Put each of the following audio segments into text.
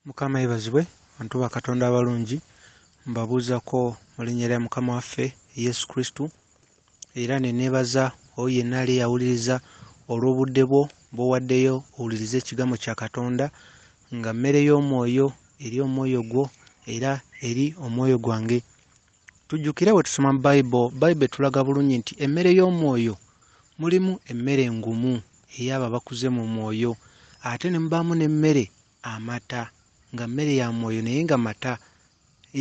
Mukama yebazibwe bantu ba Katonda abalungi, mbabuuzako mu linnya lya Mukama waffe Yesu Kristo, era ne neebaza oyo yenna ali eyawuliriza olw'obudde bwo bw'owaddeyo owulirize ekigambo kya Katonda nga mmere y'omwoyo eri omwoyo gwo era eri omwoyo gwange. Tujjukire bwe tusoma mu Bible, Bible etulaga bulungi nti emmere y'omwoyo mulimu emmere engumu ey'abo abakuze mu mwoyo ate ne mubaamu n'emmere amata nga mmere ya mwoyo naye nga mata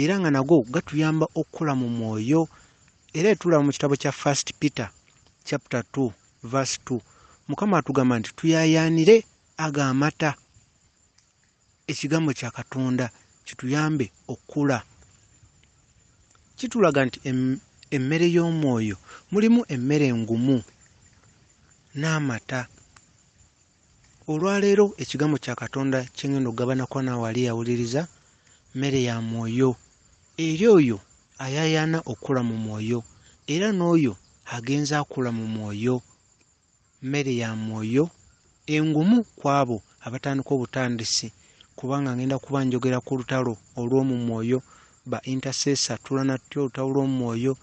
era nga nago gatuyamba okukula mu mwoyo era etulaba mu kitabo kya First Peter chapter 2 verse 2 Mukama atugamba nti tuyayaanire ago amata ekigambo kya katonda kituyambe okkula kitulaga nti emmere y'omwoyo mulimu emmere engumu n'amata olwaleero ekigambo kya katonda kyengenda okugabanako nawali awuliriza mmere ya mwoyo eri oyo ayayaana okukula mu mwoyo era n'oyo agenza akula mu mwoyo Mmere ya mwoyo engumu ku abo abatandika obutandisi kubanga ngenda kuba njogera ku lutalo olw'omu mwoyo ba intercessor tulwana tutya olutalo lw'omu mwoyo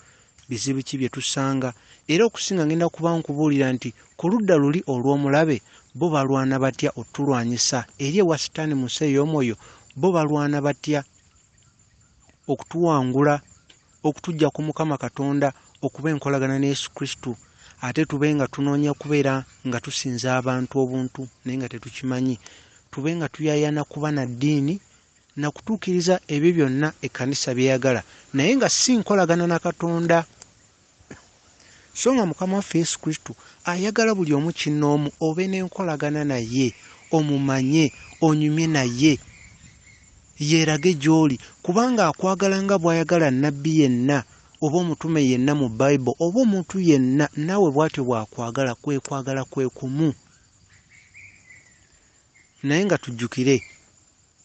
bizibu ki bye tusanga era okusinga ngenda kuba nkubuulira nti ku ludda luli olw'omulabe bo balwana batya otulwanyisa eri ewa sitaani mu nsi ey'omwoyo bo balwana batya okutuwangula okutujja ku Mukama Katonda okuba enkolagana ne Yesu Kristo ate tube nga tunoonya kubeera nga tusinza abantu obuntu naye nga tetukimanyi tube nga tuyayana kuba na ddiini na kutuukiriza ebyo byonna ekkanisa byeyagala naye nga si nkolagana na Katonda. so nga mukama waffe yesu kristo ayagala buli omu kinnoomu obe n'enkolagana naye omumanye onyumye naye yeerage gy'oli kubanga akwagala nga bw'ayagala nnabbi yenna oba omutume yenna mu bible oba omuntu yenna naawe bw'atyo bw'akwagala kwe kwagala kwe kumu naye nga tujjukire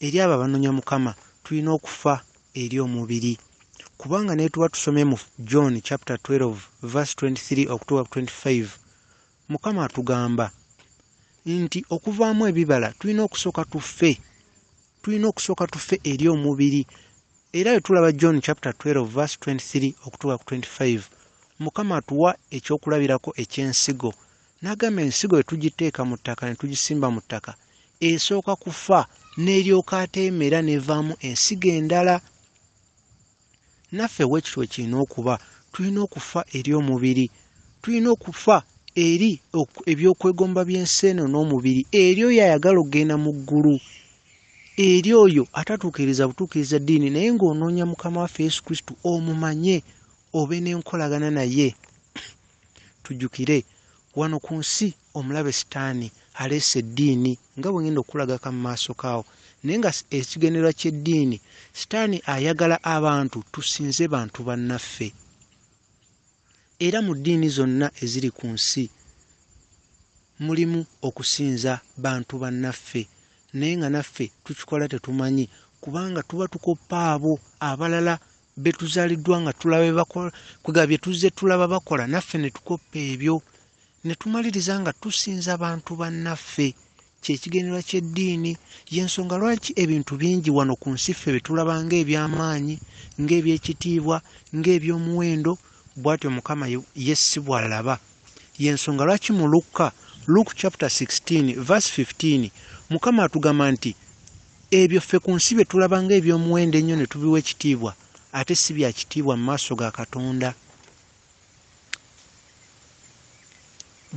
Eri abo abanonya Mukama tulina okufa eri omubiri kubanga netuba tusomye mu John chapter 12 verse 23 okutuuka ku 25 Mukama atugamba nti okuvaamu ebibala tulina okusooka tufe tulina okusooka tufe eri omubiri era wetulaba John chapter 12 verse 23 okutuuka ku 25 Mukama atuwa ekyokulabirako ekyensigo N'agamba ensigo bwe tugiteeka mu ttaka ne tugisimba mu ttaka esooka kufa n'eryoka ate emera n'evaamu ensigo endala. Naffe bwe kityo bwe kirina okuba, tulina okufa eri omubiri, tulina okufa eri eby'okwegomba by'ensi eno n'omubiri, eri oyo ayagala okugenda mu ggulu, eri oyo atatuukiriza butuukiriza ddiini naye ng'onoonya Mukama waffe Yesu Kristo omumanye obe n'enkolagana naye. Tujjukire, wano ku nsi omulabe Sitaani aleese eddiini, nga bwe ngenda okukulagako mu maaso kaawo. Naye nga ekigendererwa ky'eddiini, Sitaani ayagala abantu tusinze bantu bannaffe. Era mu ddiini zonna eziri ku nsi mulimu okusinza bantu bannaffe, naye nga naffe tukikola tetumanyi, kubanga tuba tukoppa abo abalala betuzaliddwa nga tulaba bebakola kwega byetuzze tulaba bakola naffe ne tukoppa ebyo ne tumaliriza nga tusinza bantu bannaffe kyekigendera ky'eddiini y'ensonga lwaki ebintu bingi wano ku nsi ffe betulaba ng'ebyamaanyi ng'ebyekitiibwa ng'eby'omuwendo bwatyo mukama ye si bwalaba y'ensonga lwaki mu lukka luke chapter 16 verse 15 mukama atugamba nti Ebyo ffe ku nsi bye tulaba ng'eby'omuwendo ennyo ne tubiwa ekitiibwa, ate si bya kitiibwa mu maaso ga Katonda.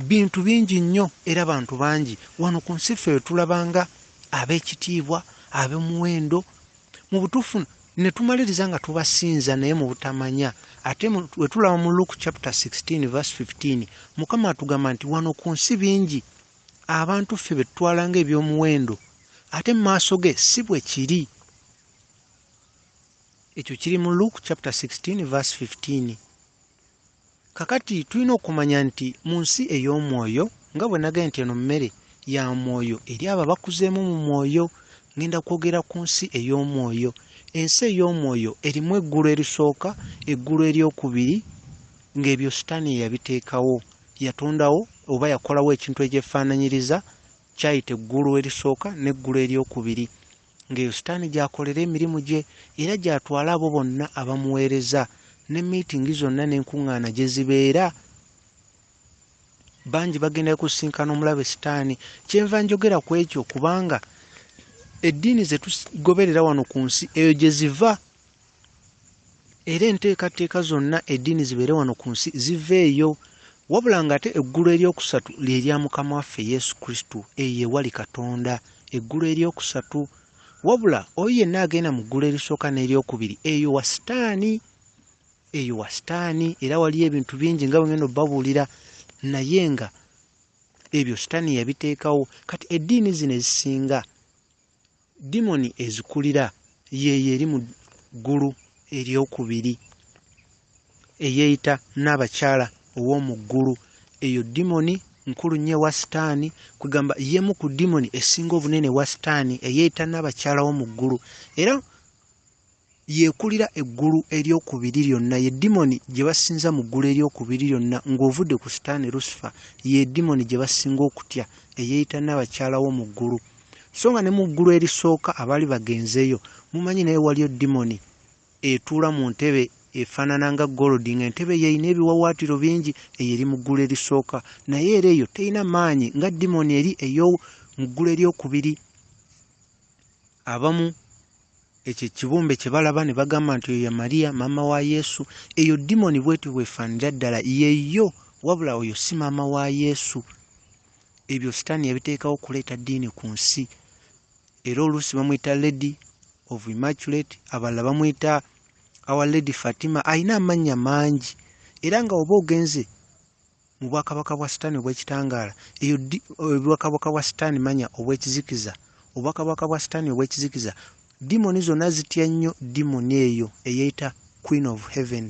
Bintu bingi nnyo era bantu bangi wano ku nsi ffe bye tulaba nga ab'ekitiibwa, ab'omuwendo, mu butuufu ne tumaliriza nga tubasinza naye mu butamanya ate wetulaba mu luke chapter 16 verse 15 mukama atugamba nti wano ku nsi bingi abantu ffe betutwala nga ebyomuwendo ate mu maaso ge si bwe kiri ekyo kiri mu luke chapter 16 verse 15 kakati tulina okumanya nti mu nsi ey'omwoyo nga bwe nagee nti eno mmere ya mwoyo eri abo abakuzeemu mu mwoyo ngenda kwogera ku nsi ey'omwoyo ensi ey'omwoyo erimu eggulu erisooka eggulu eryokubiri ng'ebyo sitaani eyabiteekawo yatondawo oba yakolawo ekintu ekyefaananyiriza Kyayita eggulu erisooka n'eggulu ery'okubiri, ng'eyo Sitaani gy'akolera emirimu gye era gy'atwala abo bonna abamuweereza, ne miitingi zonna n'enkuŋŋaana gye zibeera. Bangi bagenda kusisinkana omulabe Sitaani. Kyenva njogera ku ekyo kubanga eddiini ze tugoberera wano ku nsi eyo gye ziva era enteekateeka zonna eddiini zibeere wano ku nsi ziveeyo wabula ng'ate eggulu eryokusatu lye lya mukama waffe yesu kristo eyo ewali katonda eggulu eryokusatu wabula oyo yenna agenda mu ggulu erisooka n'eryokubiri eyo wa sitaani eyo wa sitaani era waliyo ebintu bingi nga bwengenda obabuulira naye nga ebyo sitaani yabiteekawo kati eddiini zino ezisinga Dimoni ezikulira y'eyo eri mu ggulu ery'okubiri eyeeyita Nnaabakyala ow'omu ggulu. Eyo dimoni nkulu nnyo ewa Sitaani, kwegamba y'emu ku dimoni esinga obunene ewa Sitaani eyeeyita Nnaabakyala w'omu ggulu era Y'ekulira eggulu ery'okubiri lyonna, ye dimoni gye basinza mu ggulu ery'okubiri lyonna, ng'ovudde ku Sitaani Lusifa, ye dimoni gye basinga okutya, eyeeyita nnaabakyala w'omu ggulu. So nga ne mu ggulu erisooka abaali bagenzeeyo, mumanyi, naye waliyo dimoni etuula mu ntebe efaanana nga golodi, nga entebe eyo erina ebiwawaatiro bingi, eyo eri mu ggulu erisooka, naye era eyo terina maanyi nga dimoni eri ey'omu ggulu ery'okubiri. Abamu ekyo ekibumbe kye balaba ne bagamba nti oyo ye Maria maama wa Yesu. Eyo dimoni bwetyo bwefaanira ddala, yeyo wabula oyo si maama wa Yesu. Ebyo sitaani yabiteekawo okuleeta ddiini ku nsi, era oluusi bamuyita Lady of Immaculate, abalala bamuyita Our Lady Fatima. Alina amannya mangi, era nga oba ogenze mu bwakabaka bwa sitaani obw'ekitangaala eyo ddi obwakabaka bwa sitaani manya obw'ekizikiza obwakabaka bwa sitaani obw'ekizikiza dimoni zonna zitya nnyo dimoni eyo eyeeyita queen of heaven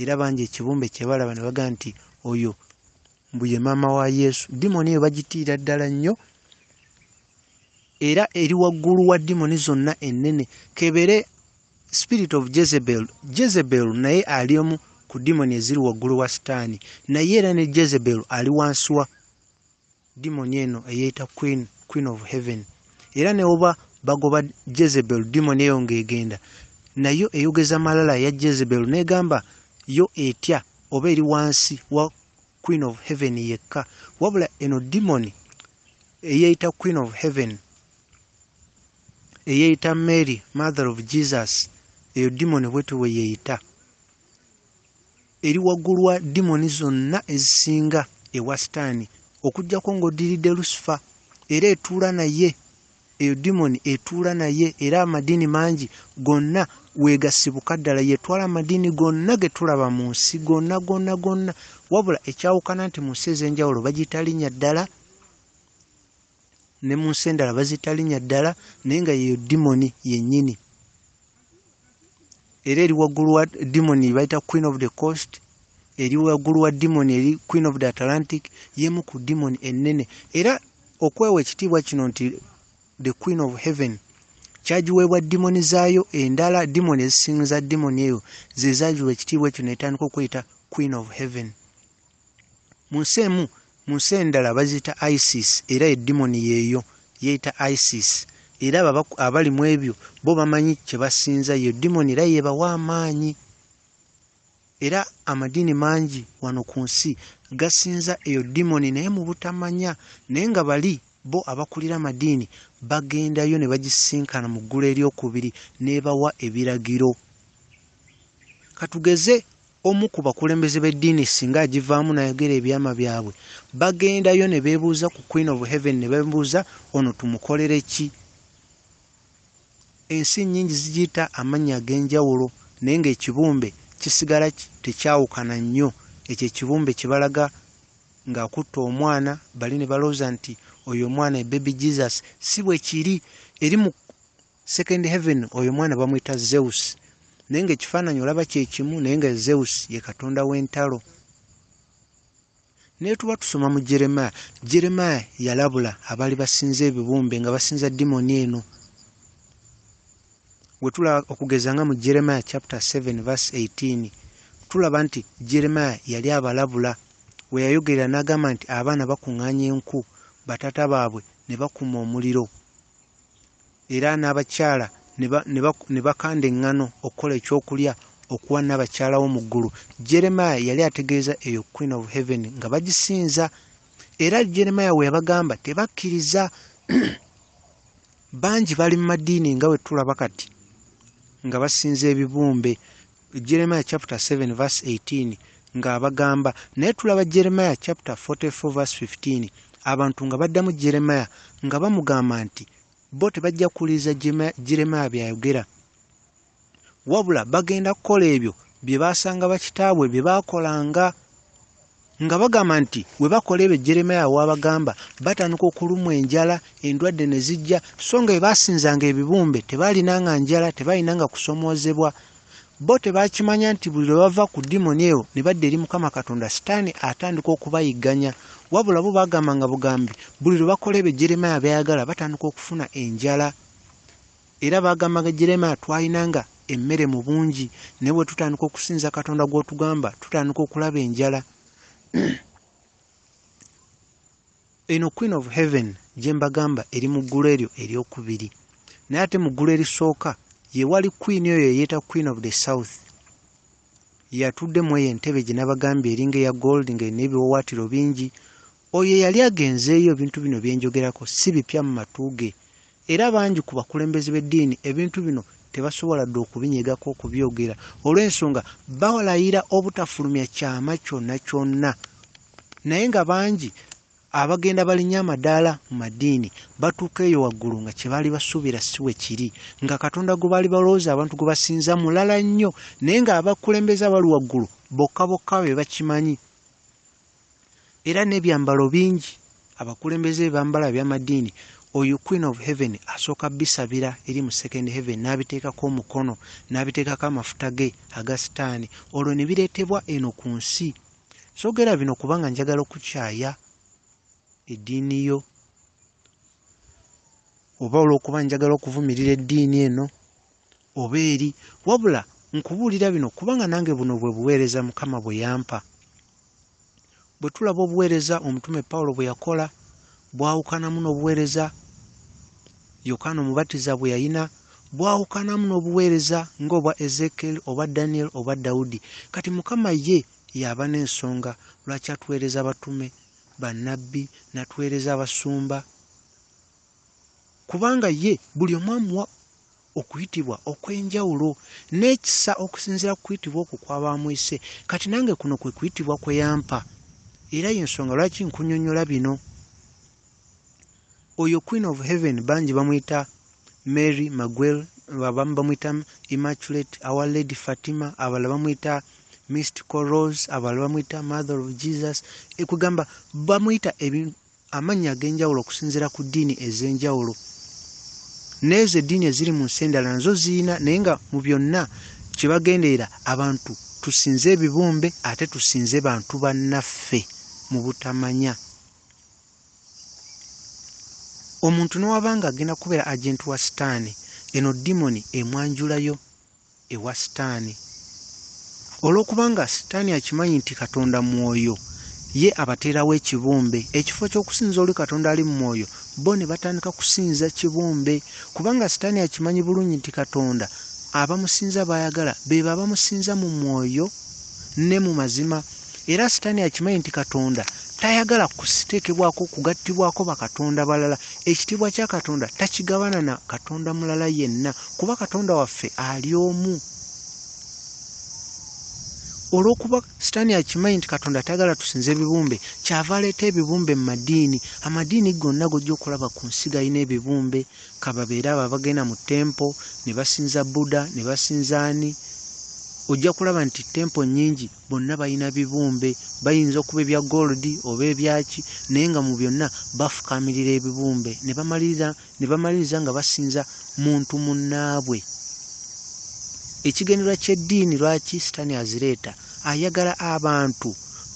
era bangi ekibumbe kye balaba ne baga nti oyo mbu ye maama wa yesu dimoni eyo bagitiira ddala nnyo era eri waggulu wa dimoni zonna ennene kebere spirit of jezebel jezebel naye ali omu ku dimoni eziri waggulu wa sitaani naye era ne jezebel ali wansi wa dimoni eno eyeeyita queen queen of heaven era newoba bagoba jezebel dimoni eyo ng'egenda nayo eyogeza malala ya jezebel n'egamba yo etya oba eri wansi wa queen of heaven yekka wabula eno dimoni eyeeyita queen of heaven eyeyita mary mother of jesus eyo dimoni bwetyo weyeyita eri waggulu wa dimoni zonna ezisinga ewa sitaani okujjako ng'oddiridde lusifa era etuula naye eyo dimoni etuula naye era amadiini mangi gonna wegasibuka ddala yetwala amadiini gonna ge tulaba mu nsi gonna gonna gonna wabula ekyawukana nti mu nsi ez'enjawulo bagiyita linnya ddala ne mu nsi endala bazita linnya ddala naye nga yeyo dimoni yennyini era eri waggulu wa dimoni bayita queen of the coast eri waggulu wa dimoni eri queen of the atlantic yemu ku dimoni ennene era okwewa ekitiibwa kino nti the queen of heaven kyagiweebwa dimoni zaayo endala dimoni ezisinza dimoni eyo zezagiwa ekitiibwa ekyo netandika okweyita queen of heaven mu nsi emu mu nsi endala baziyita isis era edimoni yeeyo yeeyita isis era abali mu ebyo bo bamanyi kye basinza yo dimoni era yeebawa amaanyi era amadiini mangi wano ku nsi gasinza eyo dimoni naye mu butamanya naye nga bali bo abakulira amadiini bagendayo ne bagisisinkana mu ggulu eryokubiri n'ebawa ebiragiro katugeze Omu ku bakulembeze b'eddiini ssinga agivaamu n'ayogera ebyama byabwe, bagendayo ne beebuuza ku Queen of Heaven ne bamubuuza, Ono tumukolere ki? Ensi nnyingi zigiyita amannya ag'enjawulo naye ng'ekibumbe kisigala tekyawukana nnyo. Ekyo ekibumbe kye balaga ng'akutte omwana, bali ne balowooza nti oyo omwana ye Baby Jesus. Si bwe kiri. Eri mu Second heaven oyo mwana bamuyita Zeus naye nga ekifaananyi olaba kyekimu naye nga Zeus ye katonda w'entalo naye tuba tusoma mu jeremaya jeremaya yalabula abaali basinza ebibumbe nga basinza dimoni eno wetula okugeza nga mu jeremaya chapter 7 verse 18 tulaba nti jeremaya yali abalabula weyayogerera n'agamba nti abaana bakuŋŋaanya enku batata baabwe ne bakuma omuliro era n'abakyala ne bakanda eŋŋano okukola ekyokulya okuwa Nnaabakyala wo mu ggulu. Jeremiah yali ategeeza eyo Queen of Heaven nga bagisinza. Era Jeremiah we yabagamba tebakkiriza. Bangi bali mu madiini nga bwe tulaba kati nga basinza ebibumbe. Jeremiah chapter 7 verse 18 nga abagamba naye tulaba Jeremiah chapter 44 verse 15 abantu nga baddamu Jeremiah nga bamugamba nti bo tebajja kuwuliriza Jeremiah byayogera wabula bagenda kukola ebyo bye baasanga bakitaabwe bye baakolanga nga bagamba nti we bakola ebyo jeremaya waabagamba batandika okulumwa enjala endwadde ne zijja so nga bwe baasinzanga ebibumbe tebaalinanga njala tebaalinanga kusomoozebwa bo tebaakimanya nti buli lwe bava ku dimoni eyo ne badda eri mukama katonda sitaani atandika okubayigganya wabula bo baagambanga bugambi buli lwe bakola ebyo jeremaya byayagala batandika okufuna enjala Era baagamba nga Jeremiah twalinanga emmere mu bungi, naye bwe tutandika okusinza Katonda gw'otugamba tutandika okulaba enjala. Eno Queen of Heaven gye mbagamba eri mu ggulu eryo eryokubiri, naye ate mu ggulu erisooka ye wali Queen oyo eyeeta Queen of the South. Yatudde mweyo entebe gyenabagambye eringa eya gold nga erina ebiwawatiro bingi. Oyo eyali agenzeeyo ebintu bino byenjogerako si bipya mu matu ge era bangi ku bakulembeze b'eddiini ebintu bino tebasobola dda okubinyegako okubyogera olw'ensonga balayira obutafulumya kyama kyonna kyonna naye nga bangi Abagenda balinnya amadaala mu madiini batuuka eyo waggulu nga kye baali basuubira si bwe kiri, nga Katonda gwe baali balowooza abantu gwe basinza mulala nnyo, naye ng'abakulembeze abali waggulu bokka bokka be bakimanyi. Era n'ebyambalo bingi abakulembeze bye bambala eby'amadiini, oyo Queen of Heaven asooka bisabira eri mu Second Heaven n'abiteekako omukono, n'abiteekako amafuta ge aga sitaani, olwo ne bireetebwa eno ku nsi. Sogera bino kubanga njagala okukyaya eddiini yo oba olw'okuba njagala okuvumirira eddiini eno oba eri wabula nkubuulira bino kubanga nange buno bwe buweereza mukama bwe yampa bwe tulaba obuweereza omutume pawulo bwe yakola bwawukanamu n'obuweereza Yokaana Omubatiza bwe yalina bwawukanamu n'obuweereza ng'obwa Ezeekyeri oba Danyeri oba Dawudi. Kati Mukama ye y'aba n'ensonga lwaki atuweereza abatume, bannabbi, n'atuweereza abasumba, kubanga ye buli omu amuwa okuyitibwa okw'enjawulo n'ekisa okusinziira ku kuyitibwa okwo kw'aba amuyise. Kati nange kuno kwe kuyitibwa kwe yampa, era y'ensonga lwaki nkunyonnyola bino. Oyo queen of heaven bangi bamuyita Mary Maguel, abamu bamuyita Immaculate, our lady Fatima, abalala bamuyita Mystical Rose, abalala bamuyita Mother of Jesus. Ekugamba bamuyita amannya ag'enjawulo okusinziira ku ddiini ez'enjawulo. N'ezo eddiini eziri mu nsi endala nazo ziyina naye nga mu byonna kye bagenderera abantu tusinze ebibumbe ate tusinze bantu bannaffe mu butamanya. omuntu newaba nga agenda kubeera agenti wa sitaani eno dimoni emwanjulayo ewa sitaani olwokubanga sitaani akimanyi nti katonda mwoyo ye abateerawo ekibumbe ekifo kyokusinza oli katonda ali mu mwoyo bo ne batandika kusinza kibumbe kubanga sitaani akimanyi bulungi nti katonda abamusinza bayagala bebo abamusinza mu mwoyo ne mu mazima Era sitaani akimanyi nti Katonda tayagala kusiteekebwako kugattibwako bakatonda balala. Ekitiibwa kya Katonda takigabana na katonda mulala yenna, kuba Katonda waffe ali omu. Olw'okuba sitaani akimanyi nti Katonda tayagala tusinze ebibumbe, kyava aleeta ebibumbe mu madiini. Amadiini gonna gojja okulaba ku nsi galina ebibumbe, ka babeere abo abagenda mu tempo ne basinza Buddha ne basinza ani, ojja kulaba nti tempo nnyingi. bonna balina bibumbe bayinza okuba ebya gold oba ebyaki naye nga mu byonna bafukaamirira ebibumbe ne bamaliriza nga basinza muntu munnaabwe ekigendererwa ky'eddiini lwaki sitaani azireeta ayagala abantu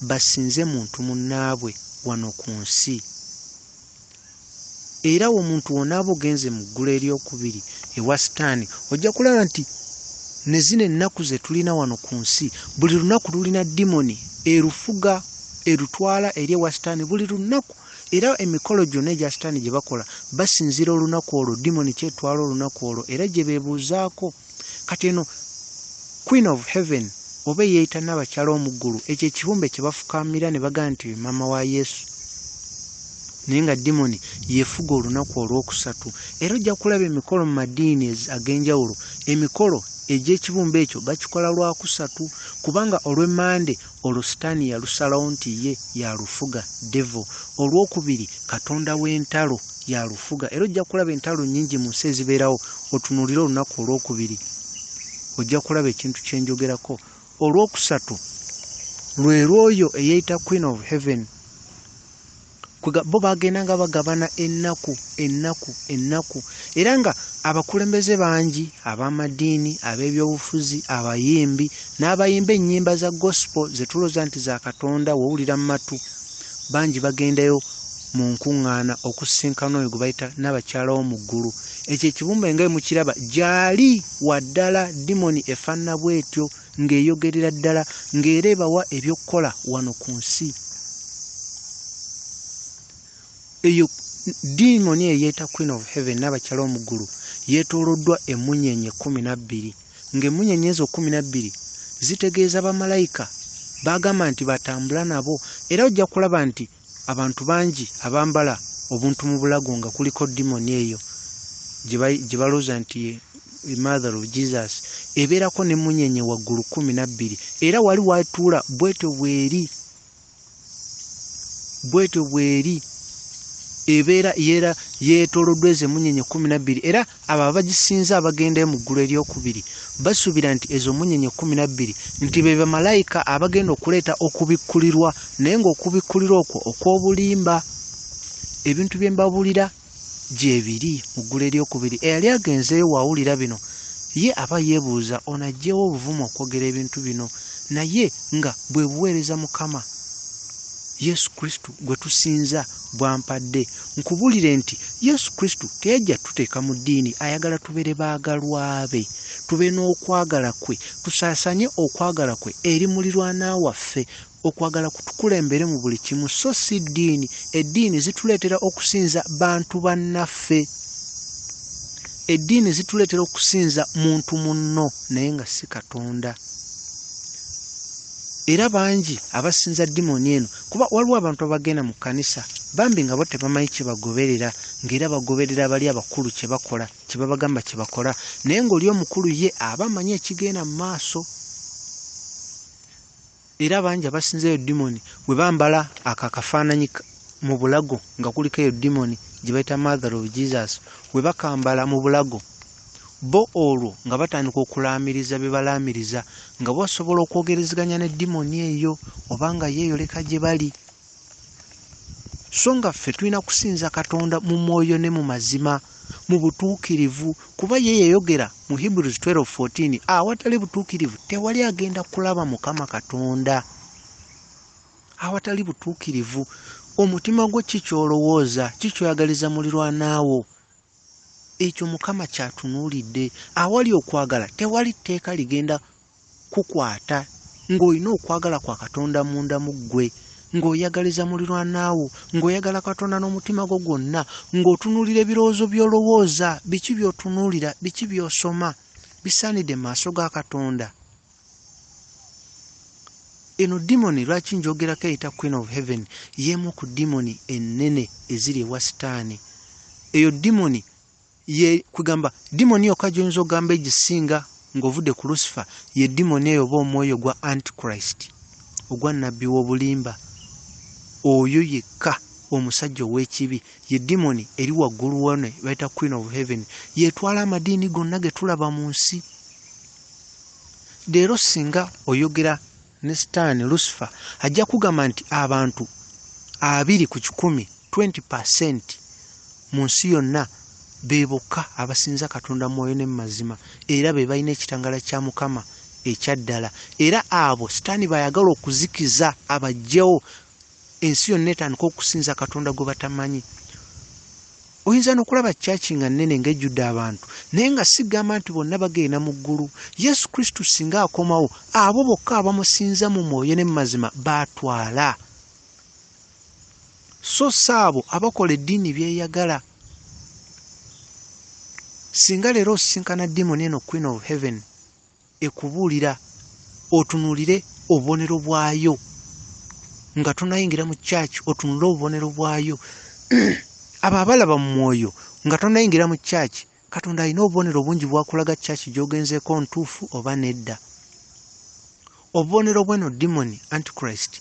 basinze muntu munnaabwe wano ku nsi Era omuntu w'onaaba ogenze mu ggulu ery'okubiri ewa Sitaani, ojja kulaba nti ne zino ennaku ze tulina wano ku nsi, buli lunaku lulina dimoni erufuga, erutwala eri ewa Sitaani buli lunaku. Era emikolo gyonna egya Sitaani gye bakola basinziira olunaku olwo, dimoni kyetwala olunaku olwo era gye beebuuzaako. Kati eno Queen of Heaven oba eyeeyita Nnabakyala Omuggulu, ekyo ekibumbe kye bafukaamira ne bagamba nti ye maama wa Yesu. Naye nga dimoni yefuga olunaku olw'okusatu. Era ojja kulaba emikolo mu madiini ag'enjawulo, emikolo egy'ekibumbe ekyo bakikola Lwakusatu, kubanga olw'Emmande Olwo Sitaani yalusalawo nti ye y'alufuga, devil. Olw'okubiri, katonda w'entalo y'alufuga. Era ojja kulaba entalo nnyingi mu nsi ezibeerawo. Otunuulire olunaku olw'okubiri, ojja kulaba ekintu kye njogerako. Olw'okusatu, lwe lw'oyo eyeeyita Queen of Heaven. bo bagenda nga bagabana ennaku ennaku ennaku era nga abakulembeze bangi ab'amadiini ab'ebyobufuzi abayimbi n'abayimba ennyimba za gospel ze tulooza nti za katonda wowulira mu matu bangi bagendayo mu nkuŋŋaana okusisinkana oyo gwe bayita n'abakyala wo mu ggulu ekyo ekibumbe nga emukiraba gyali waddala dimoni efaanana bw'etyo ng'eyogerera ddala ng'era ebawa eby'okukola wano ku nsi eyo diimoni eyeeta queen of heaven n'abakyala omuggulu yeetooloddwa emmunyeenye kkumi na bbiri ng'emmunyeenye ezo kkumi na bbiri zitegeeza bamalayika baagamba nti batambula nabo era ojja kulaba nti Abantu bangi abambala obuntu mu bulago nga kuliko dimoni eyo gye balooza nti ye mother of Jesus ebeerako ne munyenye waggulu kumi na bbiri era wali watuula bwetyo bweri bwetyo bweri ebeera yeera yeetolodwa ezo emunyenye kumi na bbiri era abo abagisinza abagendayo mu ggulu eryokubiri basuubira nti ezo munyenye kumi nabbiri nti be bamalayika abagenda okuleeta okubikkulirwa naye ngaokubikkulirwa okwo okw'obulimba ebintu bye mbabuulira gyebiri mu ggulu eryokubiri eyali agenzeeyo waawulira bino ye aba yeebuuza ono ajjeewo obuvumu okwogera ebintu bino naye nga bwe buweereza mukama yesu kristo gwe tusinza bwampadde nkubulire nti yesu kristo teyajja tuteeka mu ddiini ayagala tubere baagalwabe tube n'okwagala kwe tusaasanye okwagala kwe eri mulirwana waffe okwagala kutukulembere mu buli kimu so si ddiini eddiini zituleetera okusinza bantu bannaffe eddiini zituleetera okusinza muntu munno naye nga si katonda era bangi abasinza dimoni eno kuba waliwo abantu abagenda mu kkanisa bambi nga bo tebamanyi kye bagoberera ng'era bagoberera abali abakulu kye bakola kye babagamba kye bakola naye ng'oli omukulu ye aba amanyi ekigenda mu maaso era bangi abasinza eyo dimoni we bambala ako akafaananyi mu bulago nga kuliko eyo dimoni gye bayita mother of jesus we bakambala mu bulago Bo olwo nga batandika okulaamiriza bye balaamiriza, nga bo basobola okwogerezeganya ne dimoni eyo, oba nga yeeyoleka gye bali. So nga ffe tulina kusinza Katonda mu mwoyo ne mu mazima, mu butuukirivu, kuba ye yayogera mu Hebrews 12:14, Awatali butuukirivu tewali agenda kulaba Mukama Katonda. Awatali butuukirivu, omutima gwo ki ky'olowooza, ki ky'oyagaliza mulirwana wo? Ekyo Mukama ky'atunuulidde. Awali okwagala, tewali tteeka ligenda kukwata. Ng'olina okwagala kwa Katonda munda mu ggwe, ng'oyagaliza mulirwana wo, ng'oyagala Katonda n'omutima gwo gwonna, ng'otunuulira ebirowoozo by'olowooza, biki by'otunuulira, biki by'osoma, bisaanidde mu maaso ga Katonda. eno dimoni lwaki njogerako eyita queen of heaven yemu ku dimoni enene eziri ewa sitaani eyo dimoni kugamba dimoni yokka gyoyinza ogamba egisinga ng'ovudde ku lusifa ye dimoni eyo oba omwoyo gwa antichrist ogwa nabbi w'obulimba oyo yekka omusajja ow'ekibi ye dimoni eri waggulu wone bayita queen of heaven yetwala amadiini gonna ge tulaba mu nsi leero singa oyogera ne sitaani lusifa ajja kugamba nti abantu abiri ku kikumi 20 percent mu nsi yonna be bokka abasinza katonda mwoyo ne mumazima era be balina ekitangala kya mukama ekyaddala era abo sitaani bayagala okuzikiza abajjewo ensi yonna etandika okusinza katonda gwe batamanyi oyinza nokulaba kyaki nga nene nga ejjudde abantu naye nga sigamba nti bonna bagenda mu ggulu yesu kristu singa akomawo abo bokka abamusinza mu mwoyo ne mumazima batwala so si abo abakola eddiini byeyagala singa leero osisinkana dimoni eno queen of heaven ekubuulira otunuulire obubonero bwayo nga tonayingira mu kyaki otunule obubonero bwayo abo abalaba mu mwoyo nga tonayingira mu kyaki katonda alina obubonero bungi bwakulaga kyaki gyogenzeeko ntuufu oba nedda obubonero bweno dimoni antichrist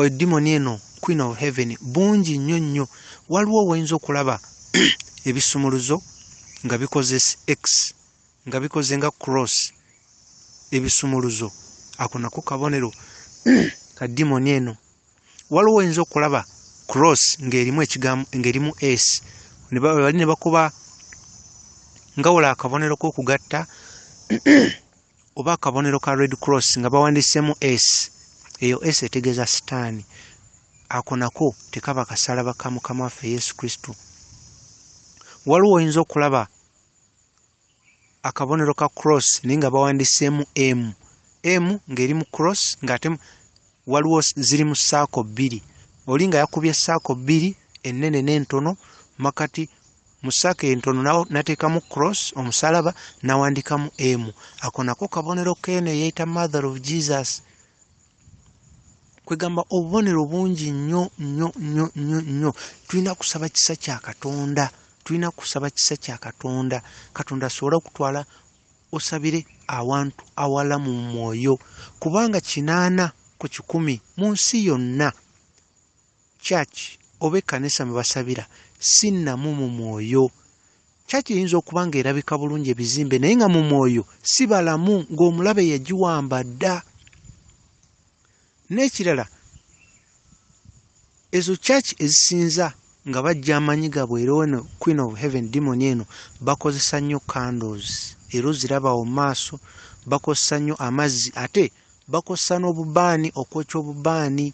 edimoni eno queen of heaven bungi nnyo nnyo waliwo woyinza okulaba ebisumuluzo nga bikozes x nga bikoze nga cross ebisumuluzo ako nako kabonero ka dimoni eno waliwo oyinza okulaba cross ngerimu ekigambo ngerimu s bali ne bakuba nga wala akabonero kokugatta oba akabonero ka red cross nga bawandisemu s eyo s etegeeza sitaani ako nako tekaba kasalaba ka mukama waffe yesu kristo waliwo oyinza okulaba akabonero ka cross naye nga bawandiseemu m m ng'eri mu cross ng'ate waliwo ziri mu saako bbiri oli nga yakubye saako bbiri ennene n'entono makati mu saako entono nateekamu cross omusalaba nawandikamu m ako nako kabonero k'eno eyeyita mother of jesus kwegamba obubonero bungi nnyo nnyo nnyo nnyo nnyo tulina kusaba kisa kya katonda tulina kusaba kisa kya katonda katonda asobole okutwala osabire awantu awala mu mwoyo kubanga kinaana ku kikumi mu nsi yonna Church oba ekanisa mwebasabira si namu mu mwoyo. Church eyinza okuba nga erabika bulungi ebizimbe naye nga mu mwoyo si balamu nga omulabe yagiwamba dda. N'ekirala ezo church ezisinza nga bajja amanyi gabwe era ono queen of heaven demon eno bakozesa nnyo candles era oziraba mu maaso bakozesa nnyo amazzi ate bakozesa n'obubaani okwokya obubaani.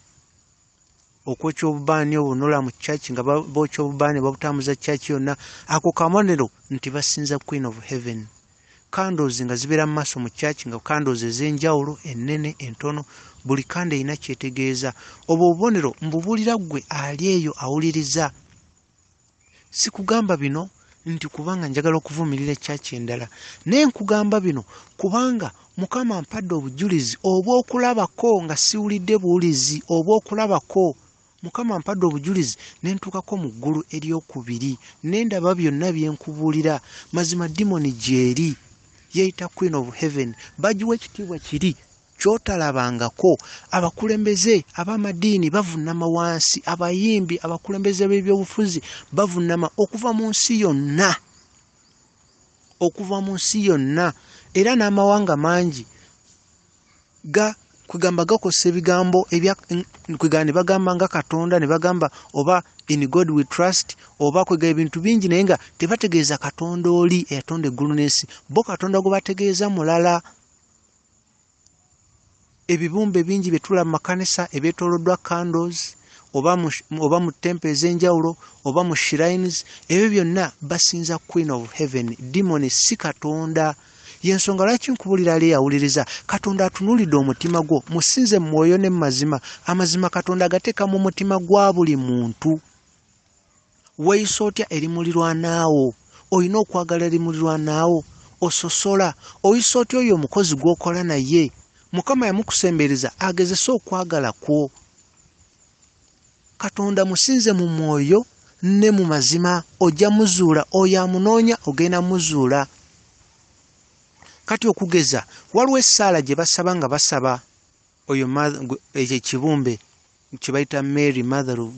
okwokya obubaani obwo nolaba mu church nga bookya obubaani babutambuza church yonna ako kabonero nti basinza queen of heaven candles nga zibeera mu maaso mu church nga candles ez'enjawulo ennene entono buli kanda erina kyetegeeza obwo obubonero mbubuulira ggwe ali eyo awuliriza sikugamba bino nti kubanga njagala okuvumirira ekyaki endala naye nkugamba bino kubanga mukama mpadde obujulizi obwokulabako nga siwulidde buwulizi obwokulabako mukama mpadde obujulizi nentuukako mu ggulu eryokubiri nendaba byonna byenkubuulira mazima dimoni gyeri yeyita queen of heaven bagiwa ekitiibwa kiri kyotalabangako abakulembeze abamadiini bavunama wansi abayimbi abakulembeze b'ebyobufuzi bavunama okuva mu nsi yonna okuva mu nsi yonna era n'amawanga mangi ga kwegamba gakozesa ebigambo kwegamba ne bagamba nga katonda ne bagamba oba in god we trust oba kwegamba ebintu bingi naye nga tebategeeza katonda oli eyatonda eggulu n'ensi bo katonda gwe bategeeza mulala ebibumbe bingi byetulaba mumakanisa ebyetoloddwa candles oba mu tempo ezenjawulo oba mu shrines ebyo byonna basinza queen of heaven dimoni si katonda yensonga lwaki nkubulira ali eyawuliriza katonda atunulidde omutima gwo musinze mwoyo ne mumazima amazima katonda agateeka mu mutima gwa buli muntu weeyisa otya eri mulirwanaawo olina okwagala eri mulirwanaawo ososola oyisa otya oyo omukozi gw'okola naye mukama yamukusembereza agezese okwagala kwo katonda musinze mu mwoyo ne mu mazima ojja muzuula oyo amunoonya ogenda muzuula kati okugeza waliwo essaala gye basaba nga basaba oyo ekyo ekibumbe kyebayita mary mother of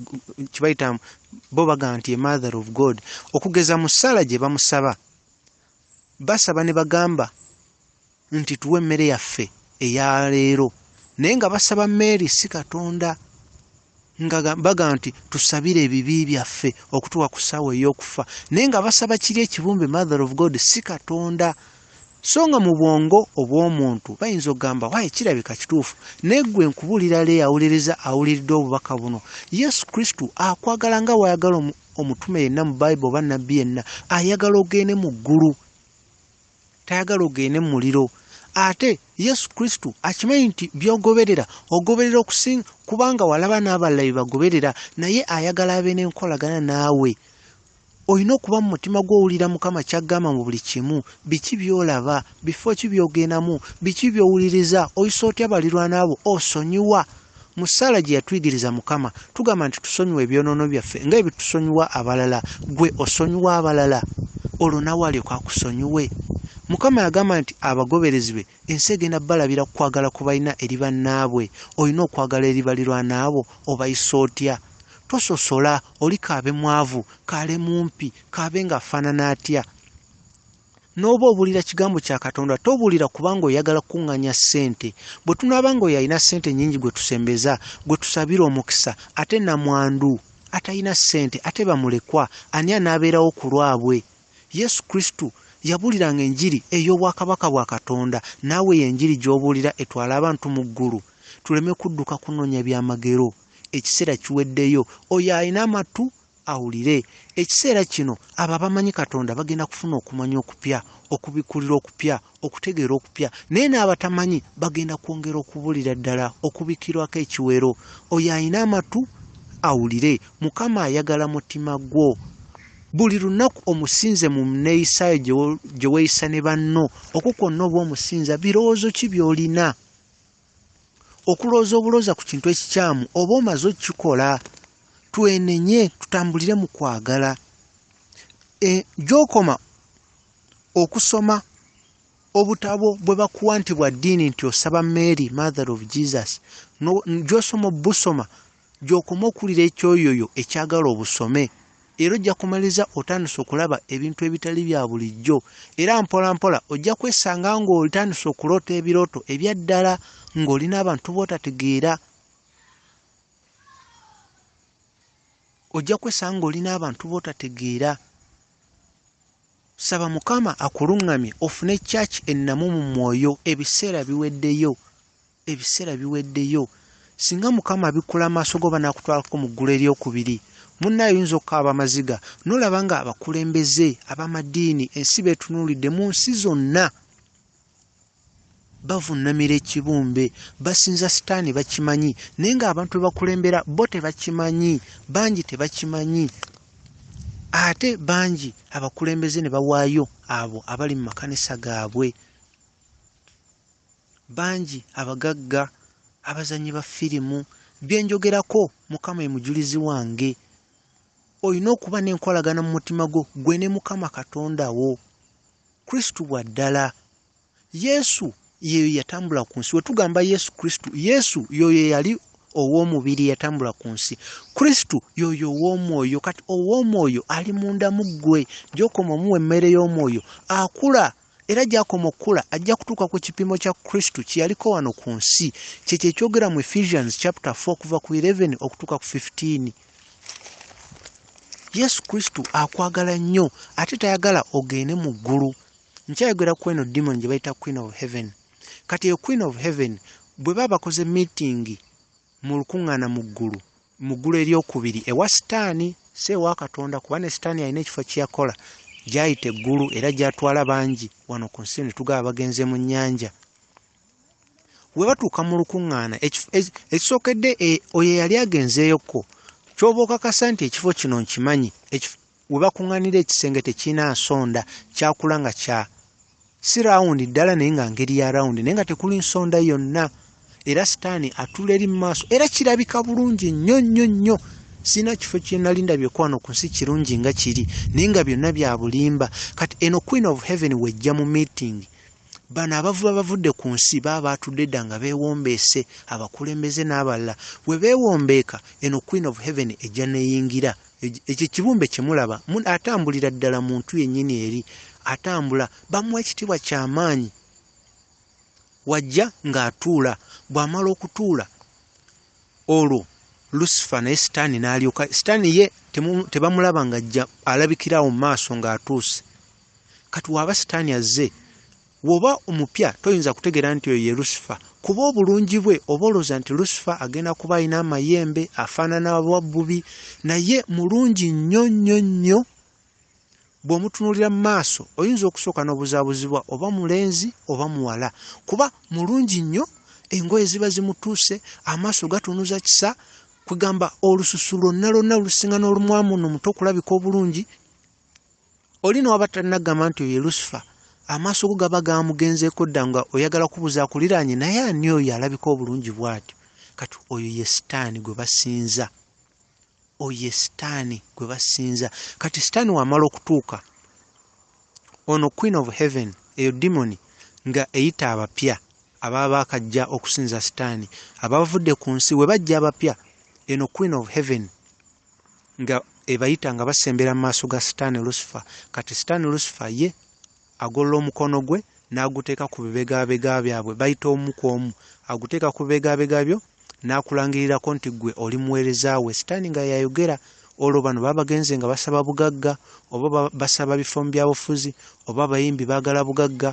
kyebayita bo bagamba nti emother of god okugeza mu ssaala gye bamusaba basaba ne bagamba nti tuwe emmere yaffe eya leero naye nga basaba mary si katonda nga bagamba nti tusabire ebibi byaffe okutuwa ku ssaawa ey'okufa naye nga basaba kiri ekibumbe mother of god si katonda so nga mu bwongo obw'omuntu bayinza okugamba waye kirabika kituufu naye gwe nkubuulira leeyo awuliriza awuliridde obubaka buno yesu kristo akwagala nga wayagala omutume yenna mu bayibuli oba nabbi yenna ayagala ogende mu ggulu tayagala ogende mu muliro ate yesu kristo akimanyi nti byogoberera ogoberera okusinga kubanga walaba n'abalala bye bagoberera naye ayagala abe n'enkolagana naawe Olina okuba mu mutima gwo owulira Mukama ky'aggamba mu buli kimu. Biki by'olaba? Bifo ki by'ogendamu? Biki by'owuliriza? Oyisa otya balirwana bo? Osonyiwa? Mu ssaala gye yatuyigiriza Mukama, tugamba nti tusonyiwa ebyonoono byaffe nga ebitusonyiwa abalala. Gwe osonyiwa abalala? Olwo nawe alyoke akusonyiwe? Mukama yagamba nti abagoberezi be Ensi egenda kubalabira ku kwagala kwe balina eri bannaabwe. Olina okwagala eri balirwana bo? Obayisa otya? Tososola, oli k'abe mwavu, k'ale mumpi, k'abe ng'afaanana atya. N'oba obuulira Kigambo kya Katonda, tobuulira kubanga oyagala kukuŋŋaanya ssente. Bwe tunaaba ng'oyo alina ssente nnyingi gwe tusembeza, gwe tusabira omukisa, ate nnamwandu, atalina ssente, ate bamulekwa, ani anaabeerawo ku lwabwe? Yesu Kristo yabuuliranga enjiri ey'obwakabaka bwa Katonda. Naawe eyo enjiri gy'obuulira etwala abantu mu ggulu? Tuleme kudduka kunoonya byamagero. Ekiseera kiweddeyo. Oyo alina amatu, awulire. Ekiseera kino, abo abamanyi Katonda bagenda kufuna okumanya okupya, okubikkulirwa okupya okutegeera okupya naye n'abatamanyi bagenda kwongera okubulira ddala okubikirwako ekiwero oyo alina amatu awulire mukama ayagala mutima gwo buli lunaku omusinze mu neeyisaayo gye weeyisa ne banno okwo kwonna oba omusinza birowoozo ki by'olina okulowooza obulooza ku kintu ekikyamu oba omaze okukikola twenenye tutambulire mu kwagala e, gy'okoma okusoma obutabo bwe bakuwa nti bwa ddiini nti osaba mary mother of jesus gyosoma obusoma gyokoma okuwulira ekyoyoyo ekyagala obusome era ojja kumaliza otandise okulaba ebintu ebitali bya bulijjo era mpola mpola ojja kwesanga ng'otandise okuloota ebirooto ebya ddala ng'olina abantu bootategeera ojja kwesanga ng'olina abantu bootategeera Saba mukama akulungamye ofune church ennamu mu mwoyo ebiseera biweddeyo ebiseera biweddeyo singa mukama abikula amaaso go banakutwalako mu ggulu eryokubiri munna ayinza okukaaba amaziga nolaba nga abakulembeze abamadiini ensi betunuulidde mu nsi zonna bavunnamira ekibumbe basinza sitaani bakimanyi naye ng'abantu bebakulembera bo tebakimanyi bangi tebakimanyi ate bangi abakulembeze ne bawaayo abo abali mu makanisa gaabwe bangi abagagga abazannyi ba firimu byenjogerako mukama ye mujulizi wange olina okuba n'enkolagana mu mutima gwo gwe ne mukama katonda wo Kristo wa ddala. Yesu yeyo yatambula ku nsi. Wetugamba Yesu Kristo, Yesu yoyo eyali ow'omubiri yatambula ku nsi. Kristo yoyo ow'omwoyo. Kati ow'omwoyo ali munda mu ggwe. Gy'okoma omuwa emmere y'omwoyo, akula era gy'akoma okukula ajja kutuuka ku kipimo kya Kristo kye yaliko wano ku nsi. Kyekyo ekyogera mu Ephesians chapter 4 okuva ku 11 okutuuka ku 15. yesu kristo akwagala nnyo ate tayagala ogende mu ggulu nkyayogera ku eno dimon gye bayita queen of heaven kati eyo queen of heaven bwe baba bakoze miitingi mu lukuŋŋaana mu ggulu mu ggulu eryokubiri ewa sitaani si ewa katonda kuba ne sitaani alina ekifo kyeyakola gyayita eggulu era gyatwala bangi wano ku nsi ne tugaba bagenze mu nnyanja we batuuka mu lukuŋŋaana ekisookedde e, oyo eyali agenzeeyokko kyoba okakasa nti ekifo kino nkimanyi we bakuŋŋanira ekisenge tekirina nsonda kyakula nga kya si rawundi ddala naye nga ngeri ya rawundi naye nga tekuli nsonda yonna era sitaani atula eri mu maaso era kirabika bulungi nnyo nnyo nnyo sirina kifo kyenali ndabyeko wano ku nsi kirungi nga kiri naye nga byonna bya bulimba kati eno queen of heaven wejja mu meeting Bano abavuba bavudde ku nsi baba baatudde dda nga beewombeese, abakulembeze n'abalala bwe beewombeeka, eno Queen of Heaven ejja n'eyingira. Ekyo ekibumbe kye mulaba atambulira ddala muntu yennyini eri, atambula, bamuwa ekitiibwa kya maanyi. Wajja ng'atuula, bw'amala okutuula olwo Lusifa naye sitaani n'alyoka, sitaani ye tebamulaba ng'ajja alabikira awo mu maaso ng'atuuse. kati waba sitaani azze woba omupya toyinza kutegeera nti oyo ye lusifa kuba obulungi bwe oba olowooza nti lusifa agenda kuba alina amayembe afaanana wabbubi naye mulungi nnyo nnyo nnyo bw'omutunuulira mu maaso oyinza okusooka n'obuzaabuzibwa oba mulenzi oba muwala kuba mulungi nnyo engoye ziba zimutuuse amaaso gatunuza kisa kwegamba olususu lwonna lwonna olusinga n'olumwamu no muto okulabika obulungi oli newaba tannagamba nti oyo lusifa amaaso go gaba gamugenzeeko dda nga oyagala kubuuza akuliraanye naye ani oyo alabika obulungi bwatyo kati oyo ye sitaani gwe basinza oyo ye sitaani gwe basinza kati sitaani wamala okutuuka ono queen of heaven eyo dimoni nga eyita abapya ababa bakajja okusinza sitaani abavudde ku nsi we bajja abapya eno queen of heaven nga ebayita nga basembera mu maaso ga sitaani lusifa kati sitaani lusifa ye agolola omukono gwe n'aguteeka ku bibegabega byabwe bayita omu ku omu aguteeka ku bibegabega byo n'akulangirirako nti gwe oli muweereza we sitaani nga yayogera olwo bano baba bagenze nga basaba bugagga oba basaba bifo mu byabufuzi oba abayimbi baagala bugagga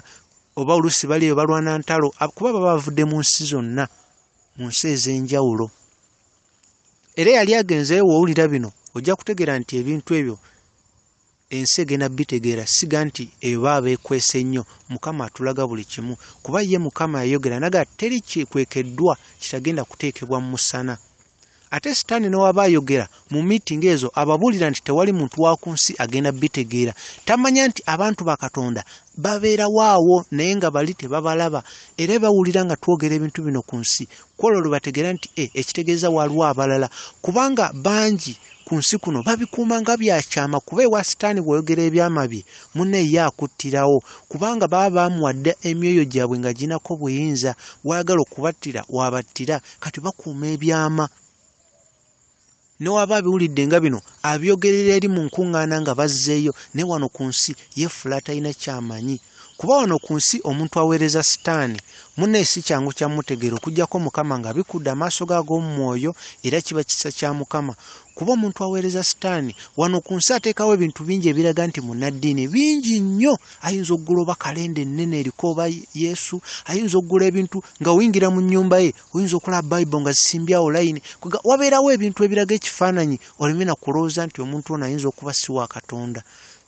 oba oluusi bali eyo balwana ntalo kuba baba bavudde mu nsi zonna mu nsi ez'enjawulo era yali agenze wowulira bino ojja kutegeera nti ebintu ebyo ensi egenda bitegeera siga nti eba abeekwese ennyo mukama atulaga buli kimu kuba ye mukama yayogera naga teri kikwekeddwa kitagenda kuteekebwa mu musana ate sitaani newaba ayogera mu miitingi ezo ababuulira nti tewali muntu wa ku nsi agenda bitegeera tamanya nti abantu ba katonda babeerawo awo naye nga bali tebabalaba era bawulira nga twogera ebintu bino ku nsi kwolwo lwebategeera nti e ekitegeeza waliwo abalala kubanga bangi ku nsi kuno babikuuma nga byakyama kuba ewa sitaani bwoyogera ebyama bye mune ye akuttirawo kubanga baba baamuwadde emyoyo gyabwe nga ginako buyinza waagala okubattira wabattira kati bakuuma ebyama ne waba abiwulidde nga bino abyogerera eri mu nkuŋŋaana nga bazzeeyo ne wano ku nsi yeefuula atalina kyamanyi kuba wano ku nsi omuntu aweereza sitaani munne si kyangu kya mutegeera okujjako mukama nga bikudde amaaso ge ag'omu mwoyo era kiba kisa kya mukama kuba omuntu aweereza sitaani wano ku nsi ateekawo ebintu bingi ebiraga nti munnaddiini bingi nnyo ayinza okugula oba kalenda ennene eriko oba yesu ayinza okugula ebintu nga oyingira mu nnyumba ye oyinza okulaba bible nga zisimbye awo layini kwega wabeerawo ebintu ebiraga ekifaananyi oleme na kulowooza nti omuntu ono ayinza okuba si wa katonda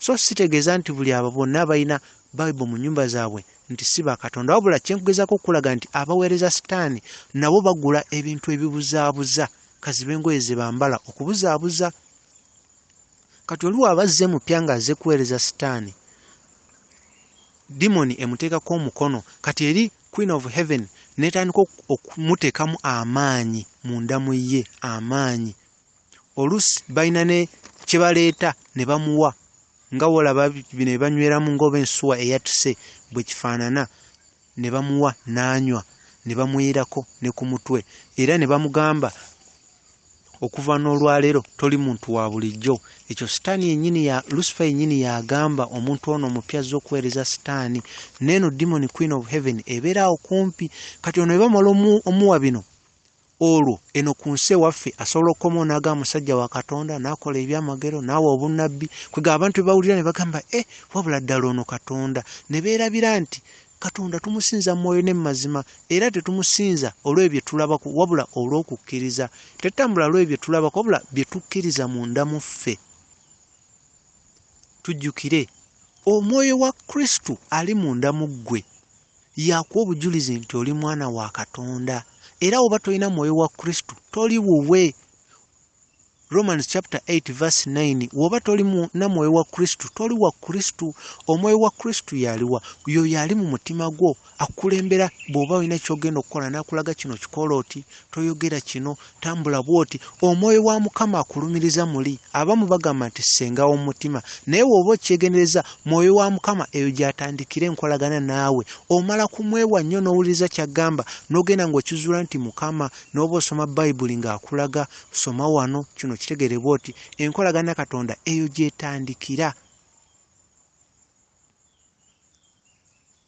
so sitegeeza nti buli abo bonna abalina bible mu nyumba zaabwe nti si ba katonda wabula kyenkugezaako okulaga nti abaweereza sitaani nabo bagula ebintu ebibuzaabuza kaziba engoye ze bambala okubuzaabuza kati oliwo abazze mupya ng'azze kuweereza sitaani Demon emutekako omukono kati eri queen of heaven netandika okumutekamu amaanyi munda mu ye amaanyi olusi balina ne kyebaleeta ne bamuwa nga wolaba bino ebanyweramu ngaoba ensuwa eyatuse bwe kifaanana ne bamuwa naanywa ne bamweyerako ne ku mutwe era ne bamugamba okuva n'olwaleero toli muntu wa bulijjo ekyo sitaani yenyini ya lusifa yenyini yagamba omuntu ono omupya azza okuweereza sitaani neeno dimoni queen of heaven ebeera awo kumpi kati ono ebamala omuwa bino olwo eno ku nsi ewaffe asobola okukoma onaga omusajja wa katonda nakola ebyamagero naawe obunnabbi kwega abantu bebawulira ne bagamba e eh, wabula ddala ono katonda ne beerabira nti Katonda tumusinza mu mwoyo ne mu mazima, era tetumusinza olw'ebyo bye tulabako wabula olw'okukkiriza. Tetutambula olw'ebyo bye tulabako wabula bye tukkiriza munda mu ffe. Tujjukire, omwoyo wa Kristo ali munda mu ggwe yakuwa obujulizi nti oli mwana wa Katonda, era oba tolina mwoyo wa Kristo toli wuwe. Romans chapter 8 verse 9 woba toli mu na mwoyo wa Kristo toli wa Kristo omwoyo wa Kristo yaliwa yo yali mu mutima gwo akulembera bwoba olina kyogenda okukola nakulaga kino kikola oti toyogera kino tambula bwoti omwoyo wa mukama akulumiriza muli abamu bagamba nti senga w'omutima naye woba okyegendereza mwoyo wa mukama eyo gyatandikira enkolagana naawe omala kumwewa nnyo n'owuliriza kyagamba n'ogenda ng'okizuula nti mukama n'oba osoma bayibuli ng'akulaga soma wano kino kitegerebwa oti enkolagana katonda eyo gyetandikira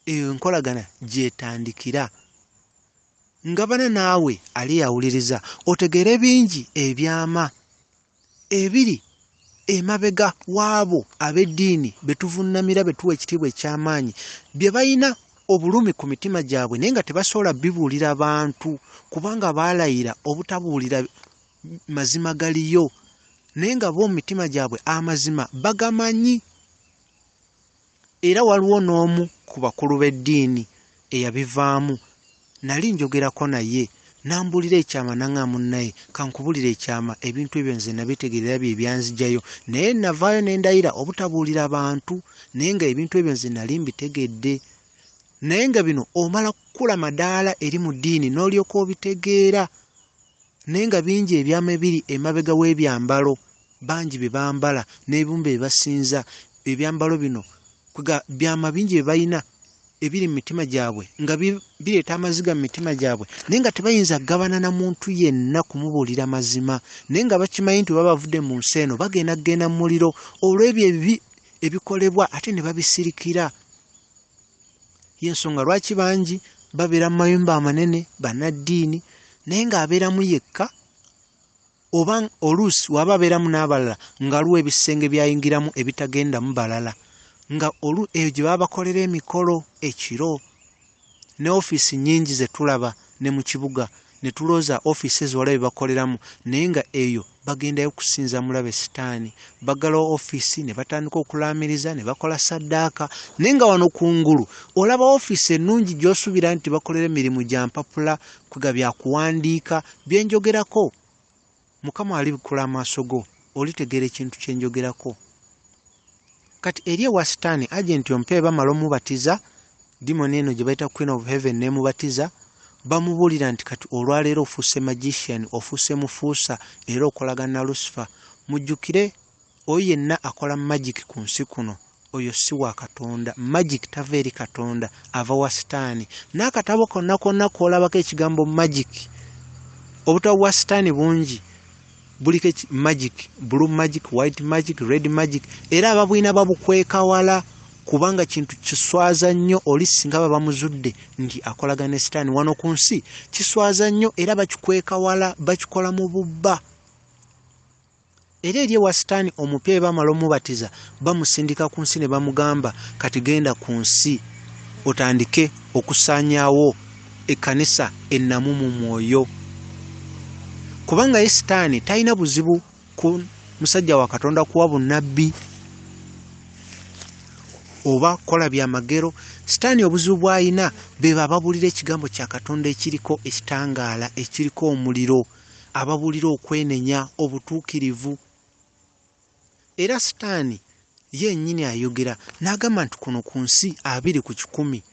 eyo enkolagana gyetandikira ngabana naawe ali yawuliriza otegeere bingi ebyama ebiri emabega w'abo ab'eddiini be tuvunnamira be tuwa ekitiibwa eky'amaanyi bye balina obulumi ku mitima gyabwe naye nga tebasobola bibuulira bantu kubanga baalayira obutabuulira mazima galiyo naye nga bo mu mitima gyabwe amazima bagamanyi Era waliwo n'omu ku bakulu b'eddiini eyabivaamu, nnali njogerako naye, n'ambuulira ekyama, n'aŋŋamba, Munnaye, ka nkubuulire ekyama, ebintu ebyo nze nnabitegeerera bye byanzijayo, naye nnavaayo ne ndayira obutabuulira bantu, naye nga ebintu ebyo nze nnali mbitegedde. Naye nga bino omala kukula madaala eri mu ddiini n'olyoka obitegeera, naye nga bingi ebyama ebiri emabega w'ebyambalo. bangi bye bambala n'ebimu bye basinza ebyambalo bino kwega byama bingi bye balina ebiri mu mitima gyabwe nga bireeta amaziga mu mitima gyabwe naye nga tebayinza kugabana na muntu yenna kumubuulira mazima naye nga bakimanyi nti oba bavudde mu nsi eno bagenda kugenda mu muliro olw'ebyo ebibi ebikolebwa ate ne babisirikira yensonga lwaki bangi babeera mu mayumba amanene bannaddiini naye ng'abeeramu yekka oba oluusi waba abeeramu n'abalala ng'aliwo ebisenge byayingiramu ebitagendamu balala nga olu eyo gye baba bakolera emikolo ekiro ne ofiisi nnyingi ze tulaba ne mu kibuga ne tulooza ofiisi ezo wala bye bakoleramu naye nga eyo bagendayo kusinza mulabe sitaani bagalawo ofiisi ne batandika okulaamiriza ne bakola saddaaka naye nga wano ku ngulu olaba ofiisi ennungi gy'osuubira nti bakolera emirimu gya mpapula kwiga bya kuwandiika bye njogerako mukama alibikkula amaaso go olitegeera ekintu kye njogerako kati eri ewa sitaani agenti ompa ebamala omubatiza dimoni eno gye bayita queen of heaven nemubatiza bamubuulira nti kati olwaleero ofuuse magician ofuuse mufuusa era okolagana lusifa mujjukire oyo yenna akola magic ku nsi kuno oyo si wa katonda magic tava eri katonda ava wa sitaani n'akatabo konna konna kolabako ekigambo magic obutabo bwa sitaani bungi buliko magic blue magic white magic red magic era ababwina babukweka wala kubanga kintu kiswaza nnyo oli singa baba muzudde nti akolagana ne sitaani wano ku nsi kiswaza nnyo era bakikweka wala bakikola mu bubba era eri ewa sitaani omupya bwe bamala omubatiza bamusindika ku nsi ne bamugamba kati genda ku nsi otandike okusaanyaawo ekkanisa ennamu mu mwoyo kubanga ye sitaani talina buzibu ku musajja wa katonda kuwa bunnabbi oba kola byamagero sitaani obuzibu bw'alina be bababulira ekigambo kya katonda ekiriko ekitangaala ekiriko omuliro ababuulira okwenenya, obutuukirivu. Era sitaani yennyini ayogera n'agamba nti kuno ku nsi abiri ku kikumi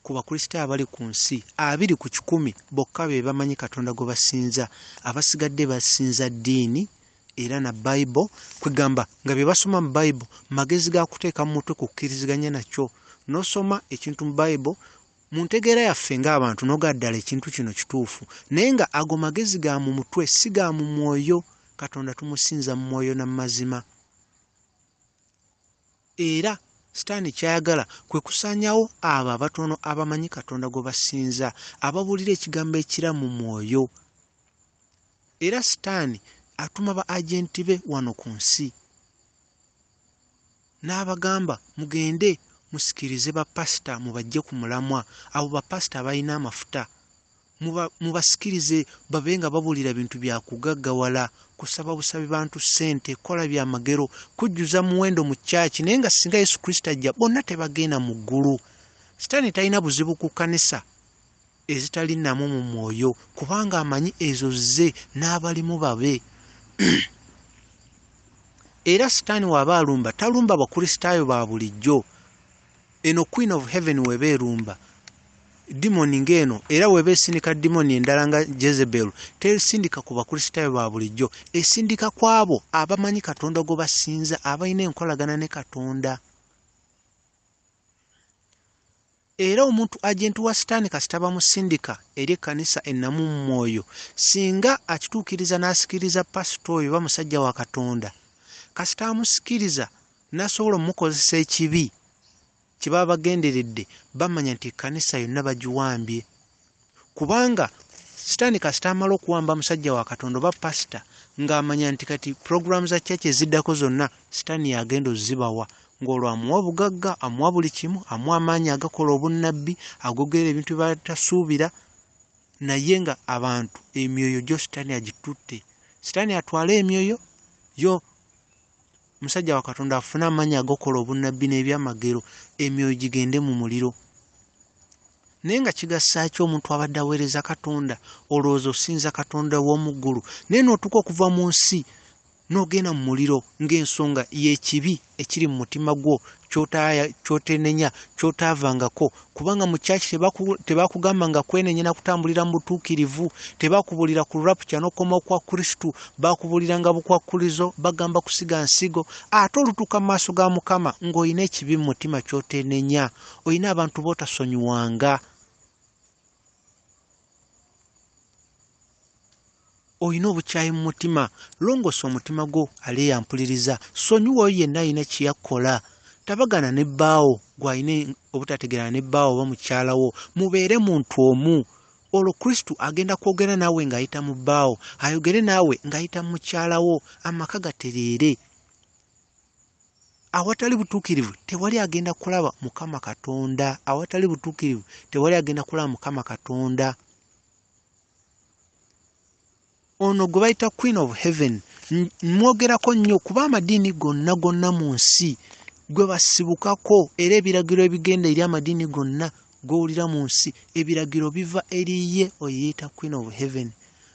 ku bakristaayo abali ku nsi abiri ku kikumi bokka be bamanyi katonda gwe basinza abasigadde basinza ddiini era na bayibo kwegamba nga bye basoma mu bayibo magezi ga kuteeka mu mutwe kukkiriziganya nakyo n'osoma ekintu mu bayibo Mu ntegeera yaffe ng'abantu noga ddala ekintu kino kituufu, naye nga ago magezi ga mu mutwe si ga mu mwoyo. Katonda tumusinza mu mwoyo na mu mazima. Era Sitaani ky'ayagala kwe kusaanyawo abo abatono abamanyi Katonda gwe basinza, ababuulira ekigambo ekira mu mwoyo. Era Sitaani atuma ba ajenti be wano ku nsi. n'abagamba mugende musikirize bapasita mubajje ku mulamwa abo bapasita abalina amafuta mubasikirize babe nga babuulira bintu bya kugaggawala kusaba busabi bantu ssente kola bya magero kujjuza muwendo mu kyaki naye nga singa yesu kristo ajja bonna tebagenda mu ggulu sitaani talina buzibu ku kkanisa ezitali namu mu mwoyo kubanga amanyi ezo zze n'abalimu babe era sitaani waaba alumba talumba bakristaayo ba bulijjo eno queen of heaven weba erumba dimoni ngaeno era weba esindika dimoni endala nga jezebel tesindika ku bakristaayo ba bulijjo esindika ku abo abamanyi katonda gwe basinza abalina enkolagana ne katonda Era omuntu agenti wa Sitaani kasita bamusindika eri ekkanisa ennamu mu mwoyo, singa akituukiriza n'asikiriza pasita oyo oba musajja wa Katonda, kasita amusikiriza n'asobola omukozesa ekibi kye baba bagenderedde, bamanya nti ekkanisa yonna bagiwambye. kubanga sitaani kasita amala okuwamba musajja wa katonda oba pasita ng'amanya nti kati pulogulaamu za kyaki eziddako zonna sitaani yagenda ozibawa ng'olwo amuwa obugagga amuwa buli kimu amuwa amaanyi agakola obunnabbi agogera ebintu bye batasuubira naye nga abantu emyoyo gyo sitaani agitutte sitaani atwala emyoyo yo musajja wa katonda afune amaanyi agokola obunnabbi n'ebyamagero emyoyo gigende mu muliro naye nga kigasaaki omuntu abadde aweereza katonda olowooza osinza katonda w'omu ggulu naye n'otuuka okuva mu nsi n'ogenda mu muliro ng'ensonga y'ekibi ekiri mu mutima gwo kyotenenya kyotaavangako kubanga mu church tebakugamba nga kwenenye na kutambulira mu butuukirivu tebakubulira ku rapture nokoma okwa kristu bakubulira nga bukwakulizo bagamba kusiga nsigo ate olutuuka mu maaso ga mukama ng'olina ekibi mu mutima kyotenenya olina abantu bootasonyiwanga olina obukyayi mu mutima longoosa omutima gwo aleeya mpuliriza sonyiwa oyo yenna alina kyeyakkola tabagana ne bbaawo gwalina obutategerana ne bbaawo oba mukyalawo mubeere muntu omu olwo kristo agenda kwogera naawe ng'ayita mu bbaawo ayogere naawe ng'ayita mu mukyalawo amaka gatereere awatali butuukirivu tewali agenda kulaba mukama katonda awatali butuukirivu tewali agenda kulaba mukama katonda ono gwe bayita queen of heaven mwogerako nnyo kuba amadiini gonna gonna mu nsi gwe basibukako era ebiragiro ebigenda eri amadiini gonna gowulira mu nsi ebiragiro biva eriye oyeeta queen of heaven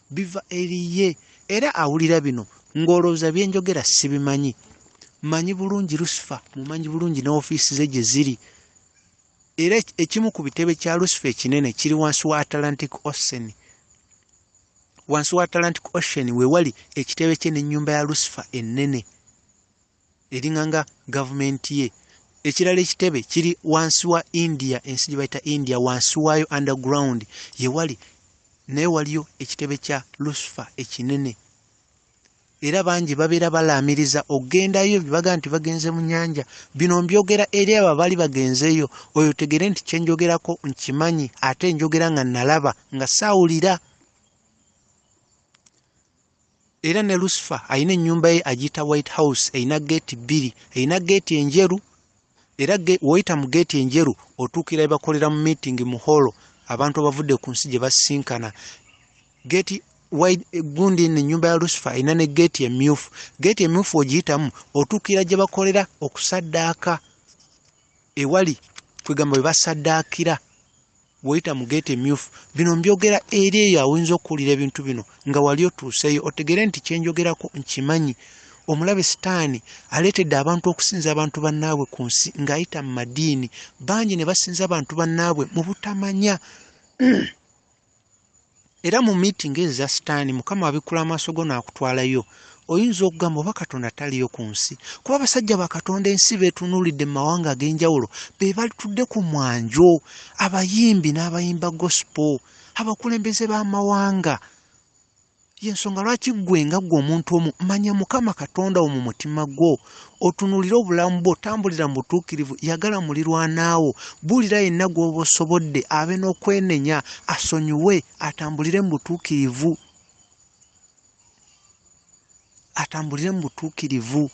biva eri ye era awulira bino ng'olowooza bye njogera sibimanyi manyi bulungi lusifa mumanyi bulungi ne ofiisi ze gye ziri era ekimu ku bitebe kya lusifa ekinene kiri wansi wa atlantic ocean wansi wa atlantic ocean we wali ekitebe kye n'ennyumba ya lusifa ennene eringanga government ye ekirala ekitebe kiri wansi wa india ensi gyebayita india wansi waayo underground yewali naye waliyo ekitebe kya lusifa ekinene era bangi babeera balaamiriza okugendayo bebaga nti bagenze mu nyanja bino mbyogera eri abo abaali bagenzeeyo oyo tegere nti kyenjogerako nkimanyi ate njogera nga nalaba nga saawulira era ne lusifa alina ennyumba ye agiyita white house erina geeti bbiri erina geeti enjeru era woyita mu geeti enjeru otuukira ebakolera mu meeting mu holo abantu abavudde ku nsi gye basisinkana geeti gundi no ennyumba ya lusifa erina ne geeti emyufu geeti emyufu ogiyitamu otuukira gye bakolera okusaddaaka ewali kwegamba bwe basaddaakira woyita mu gate emyufu bino mbyogera eri eyo awoyinza okuwulira ebintu bino nga wali otuuseeyo otegere nti kyenjogerako nkimanyi omulabe sitaani aleetedde abantu okusinza abantu bannaabwe ku nsi ng'ayita mu madiini bangi ne basinza abantu bannaabwe mu butamanya era mu miitingi ezo za sitaani mukama abikkula amaaso go n'akutwalayo oyinza okugamba oba katonda taliyo ku nsi kuba abasajja ba katonda ensi beetunuulidde mu mawanga ag'enjawulo be balitudde ku mwanjo abayimbi n'abayimba gospel abakulembeze b'amawanga y'ensonga lwaki ggwe nga ggwe omuntu omu manya mukama katonda wo mu mutima gwo otunulire obulamu bwo tambulira mu butuukirivu yagala mulirwanaawo buulira yenna gw'oba osobodde abe n'okwenenya asonyiwe atambulire mu butuukirivu atambulire mu butuukirivu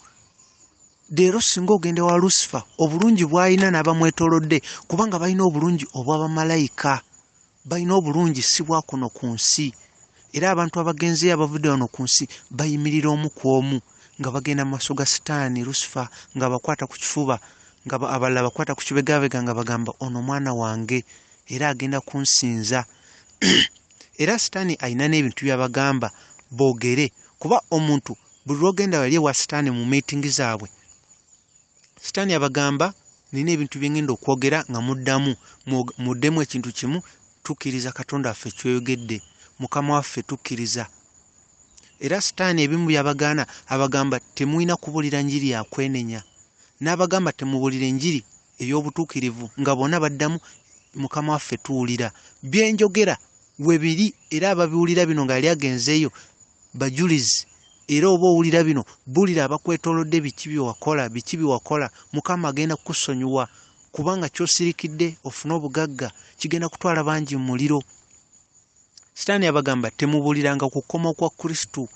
leero singa ogenda wa lusifa obulungi bw'alina n'abamwetolodde kubanga balina obulungi obw'abamalayika balina obulungi si bwa kuno ku nsi era abantu abagenzeyo abavudde wano ku nsi bayimirira omu ku omu nga bagenda mu maaso ga sitaani lusifa ng'abakwata ku kifuba nga abalala bakwata ku kibegabega nga bagamba ono omwana wange era agenda kunsinza era sitaani alina n'ebintu byabagamba boogere kuba omuntu buli lwogenda wali ewa sitaani mu miitingi zaabwe sitaani abagamba nina ebintu byengenda okwogera nga muddamu muddemu ekintu kimu tukkiriza katonda waffe kyoyogedde mukama waffe tukkiriza era sitaani ebimu byabagaana abagamba temulina kubulira njiri yakwenenya n'abagamba temubulira enjiri ey'obutuukirivu nga bona baddamu mukama waffe tuwulira byenjogera webiri era ababiwulira bino nga yali agenzeeyo bajulizi era oba owulira bino bulira abakwetolodde biki byewakola biki byewakola mukama agenda kukusonyiwa kubanga kyosirikidde ofune obugagga kigenda kutwala bangi mu muliro sitaani yabagamba temubuliranga ku kukoma kwa kristo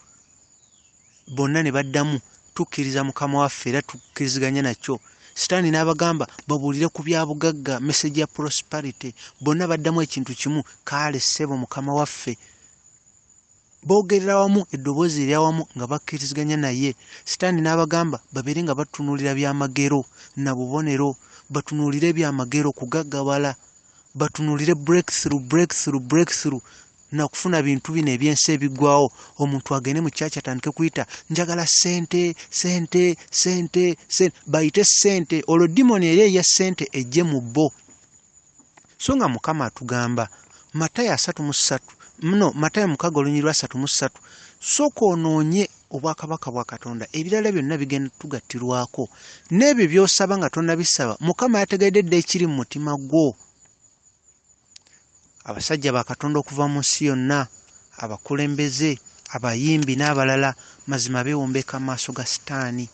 Bonna ne baddamu, Tukkiriza Mukama waffe era tukkiriziganya nakyo. Sitaani n'abagamba babuulire ku bya bugagga, mesegi ya prosperity. Bonna baddamu ekintu kimu, Kaale, ssebo, Mukama waffe. Boogerera wamu eddoboozi eryawamu nga bakkiriziganya naye. Sitaani n'abagamba babeere nga batunuulira byamagero na bubonero, batunuulire ebyamagero kugaggabala. batunulire breakthrough breakthrough breakthrough nakufuna bintu bino ebyensi ebigwawo omuntu agende mu kyaki atandike kuyita njagala sente sente sente sente bayite sente olwo dimoni eri eya sente ejje mu bo so nga mukama atugamba matayo asatu mu ssatu mno matayo mukaga olunyiri lwa satu mu ssatu soka onoonye obwakabaka bwa katonda ebirala byonna bigenda tugattirwako n'ebyo byosaba nga tonabisaba mukama yategedde dda ekiri mu mutima gwo abasajja ba katonda okuva mu nsi yonna abakulembeze abayimbi n'abalala mazima bewombeka amaaso ga sitaani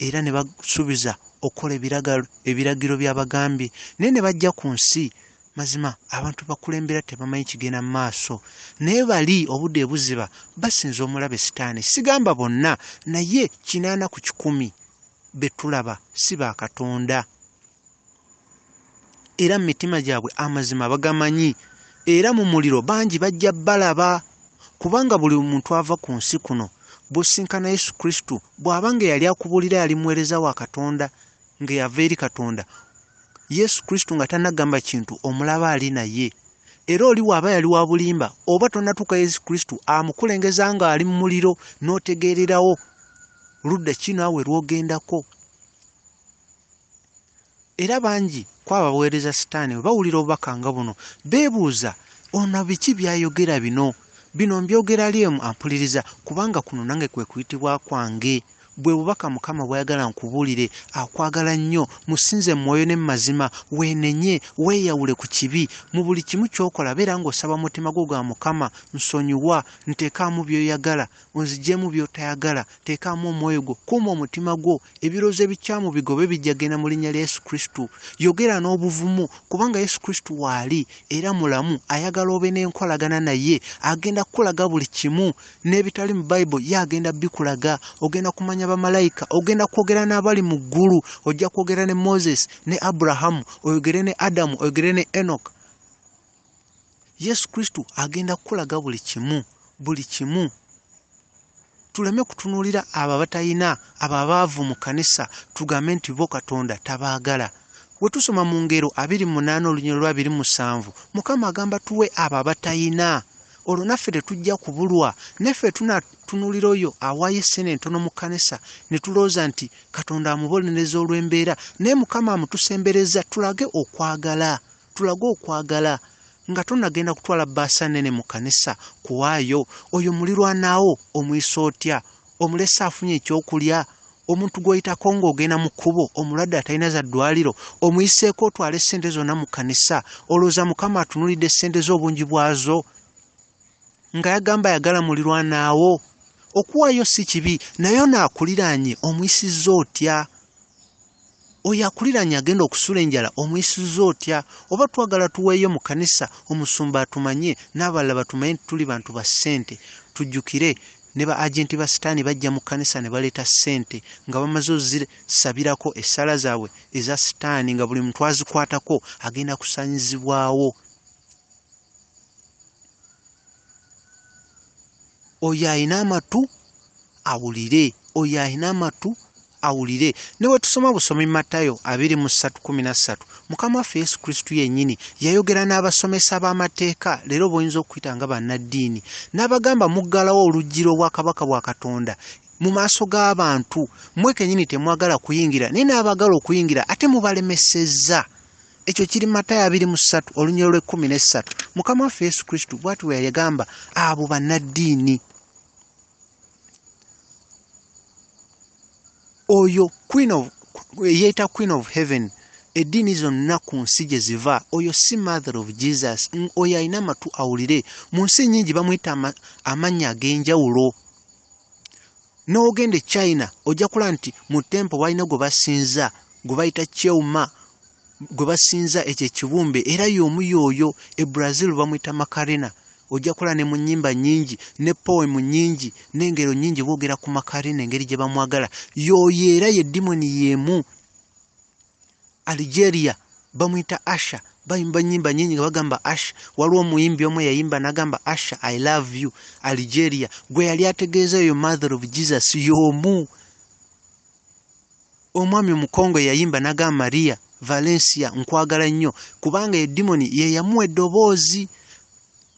era ne basuubiza okukola ebiragiro by'abagambye naye ne bajja ku nsi Mazima abantu bakulembera tebamanyi kigenda mu maaso, naye bali obudde ebuziba basinza omulabe sitaani. Sigamba bonna, naye kinaana ku kikumi be tulaba si ba Katonda, era mu mitima gyabwe amazima bagamanyi, era mu muliro bangi bajja balaba, kubanga buli muntu ava ku nsi kuno bw'osinkana Yesu Kristo, bw'aba nga eyali akubuulira yali muweereza wa Katonda, nga yava eri katonda yesu kristo nga tanagamba kintu omulaba ali naye era oli waaba yali wa bulimba oba tonatuuka yesu kristo amukulengeza nga ali mu muliro n'otegeererawo ludda ki naawe lwogendako era bangi kwabo abaweereza sitaani bwe bawulira obubaka nga buno beebuuza ono biki byayogera bino bino mbyogera lyemu ampuliriza kubanga kuno nange kwe kuyitibwa kwange Bwe bubaka Mukama bw'ayagala nkubuulire, Akwagala nnyo. Musinze mu mwoyo ne mu mazima. Weenenye, weeyawule ku kibi. Mu buli kimu ky'okola beera ng'osaba mu mutima gwo ga Mukama, nsonyiwa, nteekaamu by'oyagala, onzigyemu by'otayagala, teekaamu omwoyo gwo, kuuma omutima gwo, ebirowoozo ebikyamu bigobe bijja genda mu linnya lya Yesu Kristo. Yogera n'obuvumu, kubanga Yesu Kristo waali era mulamu, ayagala obe n'enkolagana naye, agenda kukulaga buli kimu. n'ebitali mu bible ye agenda bikulaga ogenda kumanya bamalayika ogenda kwogera n'abali mu ggulu ojja kwogera ne moses ne abrahamu oyogere ne adamu oyogere ne enok yesu kristo agenda kukulaga buli kimu buli kimu tuleme kutunuulira abo abatalina abo abaavu mu kanisa tugambe nti bo katonda tabaagala we tusoma mu ngero abiri munaana olunyiro lwa biri musanvu mukama agamba tuwe abo abatalina olwo naffe tetujja kubulwa naffe tunatunulira oyo awaayo essene entono mu kkanisa ne tulooza nti katonda amubonereza olw'embeera naye mukama amutusembereza tulage okwagala tulage okwagala nga tonagenda kutwala bbaasa nnene mu kkanisa kuwaayo oyo mulirwanaawo omuyisa otya omulesa afunye ekyokulya omuntu gwoyitako ng'ogenda mu kkubo omulwadde atalina za ddwaliro omuyiseeko otwala essente zonna mu kkanisa olowooza mukama atunulidde essente z'obungi bwazo nga yagamba ayagala mulirwanaawo okuwaayo si kibi naye onaakuliraanye omuyisizza otya oyo akuliranye agenda okusula enjala omuyisiza otya oba twagala tuweeyo mu kanisa omusumba atumanye n'abalala batumanye nti tuli bantu ba ssente tujjukire ne ba agenti ba sitaani bajja mu kanisa ne baleeta ssente nga bamaze ozisabirako essaala zaabwe eza sitaani nga buli muntu azikwatako agenda kusanyizibwawo oyo alina amatu awulire oyo alina amatu awulire ne bwe tusoma busomi matayo abiri mu ssatu kumi na ssatu mukama waffe yesu kristu yennyini yayogera n'abasomesa b'amateeka leero boyinza okuyita nga bannaddiini n'abagamba muggalawo oluggi lw'obwakabaka bwa katonda mu maaso g'abantu mwe kennyini temwagala kuyingira naye n'abagala okuyingira ate mubalemesezza ekyo kiri matayo abiri mu ssatu olunyiro lw'ekkumi n'essatu mukama waffe yesu kristo bwati bwe yagamba abo bannaddiini oyo queen of eyeeyita queen of heaven eddiini zonna ku nsi gye ziva oyo si mother of jesus oyo alina amatu awulire mu nsi nnyingi bamuyita amannya ag'enjawulo n'ogenda e china ojja kulaba nti mu tempo balina gwe basinza gwe bayita cheuma gwe basinza ekyo ekibumbe era y'omu yooyo e brazil bamuyita makarina ojja kulaba ne mu nnyimba nnyingi ne poemu nnyingi n'engero nnyingi boogera ku makarina engeri gye bamwagala yooyo era ye dimoni y'emu Algeria bamuyita Asha bayimba nyimba nyingi nga bagamba Asha waliwo omuyimbi omu yayimba nagamba Asha I love you Algeria gwe yali ategeeza eyo mother of Jesus yomu omwami omukongo yayimba nagamba Maria Valencia nkwagala nnyo kubanga edimoni ye yamuwa eddoboozi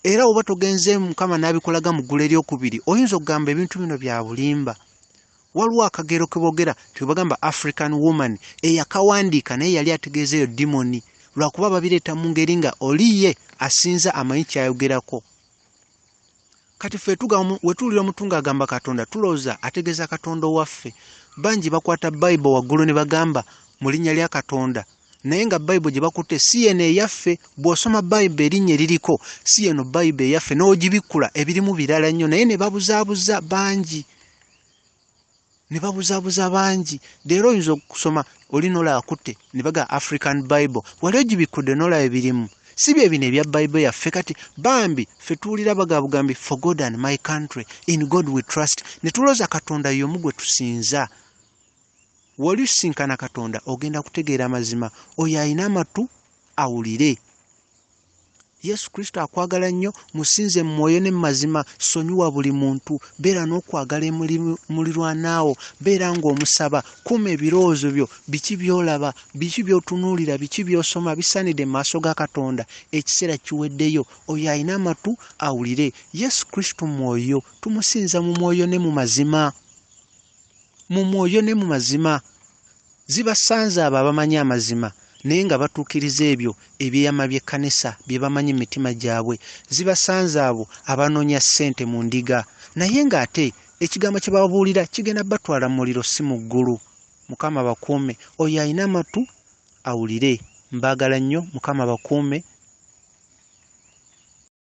era oba togenze mukama nabikolaga mu ggulu eryokubiri oyinza okugamba ebintu bino bya bulimba waliwo akagero kebogera tebagamba african woman eyakawandiika naye yali ategeeza eyo dimoni lwakuba babireeta mu ngeri nga oliye asinza amanyi kyayogerako kati fe wetuwulira omuntu nga agamba katonda tulowooza ategeeza katonda owaffe bangi bakwata bayibo waggulu ne bagamba mu linnya lya katonda naye nga bayibo gye bakutte si yeno eyaffe bw'osoma bayibo erinnya eririko si yeno bayibo eyaffe n'ogibikkula ebirimu birala nnyo naye ne babuzaabuza bangi ne babuzabuza bangi leero oyinza okusoma oli nolaba kutte ne baga african bible wali ogibikkudde nolaba ebirimu si bye bino ebya bible yaffe kati bambi ffe tuwulira bagabugambi for god and my country in god we trust ne tulooza katonda yomu gwe tusinza wali usisinkana katonda ogenda kutegeera amazima oyo alina amatu awulire yesu kristo akwagala nnyo musinze mu mwoyo ne mumazima sonyiwa buli muntu beera n'okwagala emulirwanaawo beera ng'omusaba kuuma ebirowoozo byo biki byolaba biki byotunuulira biki byosoma bisaanidde mu maaso ga katonda ekiseera kiweddeyo oyo alina amatu awulire yesu kristo mwoyo tumusinza mu mwoyo ne mu mazima mu mwoyo ne mu mazima zibasanze abo abamanyi amazima naye nga batuukiriza ebyo ebyeyama by'ekkanisa bye bamanyi mu mitima gyabwe zibasanze abo abanoonya ssente mu ndiga naye ng'ate ekigambo kye babuulira kigenda batwala mu muliro si mu ggulu mukama bakuume oyo alina amatu awulire mbaagala nnyo mukama bakuume